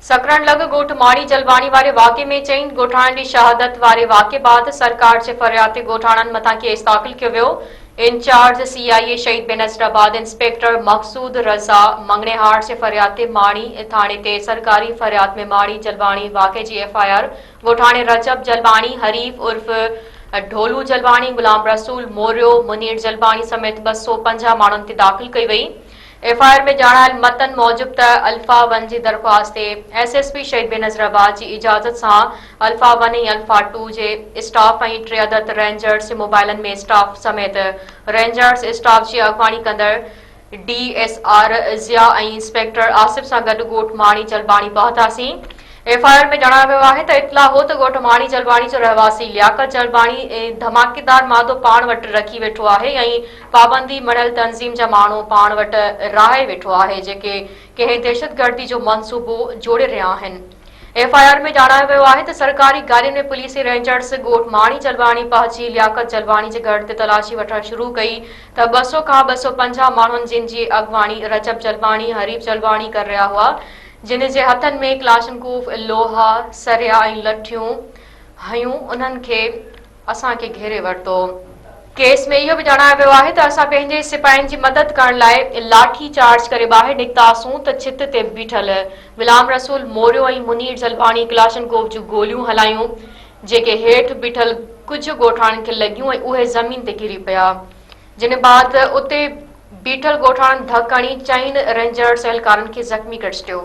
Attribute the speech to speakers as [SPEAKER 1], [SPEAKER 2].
[SPEAKER 1] سکرڻ لڳ ڳوٺ ماڙي جلواڻي واري واقعي ۾ چئن ڳوٺاڻن جي شهادت واري واقعي بعد سرڪار جي فرياد تي ڳوٺاڻن مٿان ڪيس داخل ڪيو ويو انچارج سي آء اي شهيد بينظر آباد انسپيڪٽر مقصود رضا مڱڻهار جي فرياد تي ماڙي ٿاڻي تي سرڪاري فرياد ۾ ماڙي جلواڻي واقعي جي ايف آء آر ڳوٺاڻي رجب جلواڻي حريف عرف ڍولو جلواڻي غلام رسول موريو منير جلواڻي سميت ٻه سؤ پنجاهه ماڻهن تي داخل ڪئي وئي ايف آء آر ۾ ڄاڻايل متن موجب ته الفا ون جي درخواست تي S S P Shaheed Benazirabad جي اجازت سان الفا ون ۽ الفا ٽو جي اسٽاف ۽ ٽي عدد رينجرز جي موبائلن ۾ اسٽاف سميت رينجرز اسٽاف جي اڳواڻي ڪندڙ D S R Zia ۽ inspector Asif سان گڏ ڳوٺ ماڻي جلباڻي پهتاسين. ايف آء آر ۾ ڄاڻايو ويو آهي ته اطلاع هو ته ڳوٺ ماڻي جلباڻي جو رهواسي لياقت جلباڻي ڌماڪيدار مادو پاڻ وٽ رکي ويٺو آهي ۽ پابندي مڙهيل تنظيم جا ماڻهو پاڻ وٽ راهي ويٺو آهي جيڪي ڪنهن دهشتگردي جو منصوبو جوڙي رهيا آهن ايف آء آر ۾ ڄاڻايو ويو آهي ته سرڪاري گاڏين ۾ پوليسي رينجرز ڳوٺ ماڻي جلواڻي پهچي لياقت جلواڻي جي گهر تي تلاشي وٺڻ شروع ڪئي ته ٻه سؤ کان ٻه سؤ پنجاهه ماڻهن جن جي اڳواڻي رجب جلواڻي حريف جلواڻي ڪر رهيا هئا جن جي هٿن ۾ ڪلاشنڪوف لوها سريا ۽ لٺيون هيون انهن کي اسان کي گهيري ورتو. ڪيس ۾ اهو به ڄاڻايو ويو آهي ته اسان پنهنجي سپاهين جي مدد ڪرڻ لاء لاٺي چارج ڪري ٻاهر نڪتاسون ته ڇت تي بيٺل غلام رسول موريو ۽ منير زلباڻي ڪلاشنڪوف جون گوليون هلايون جيڪي هيٺ بيٺل ڪجهه ڳوٺاڻن کي لڳيون ۽ اهي زمين تي ڪري پيا جنهن بعد اتي بيٺل ڳوٺاڻن ڌڪ هڻي چئن رينجرز اهلڪارن کي زخمي ڪري ڇڏيو.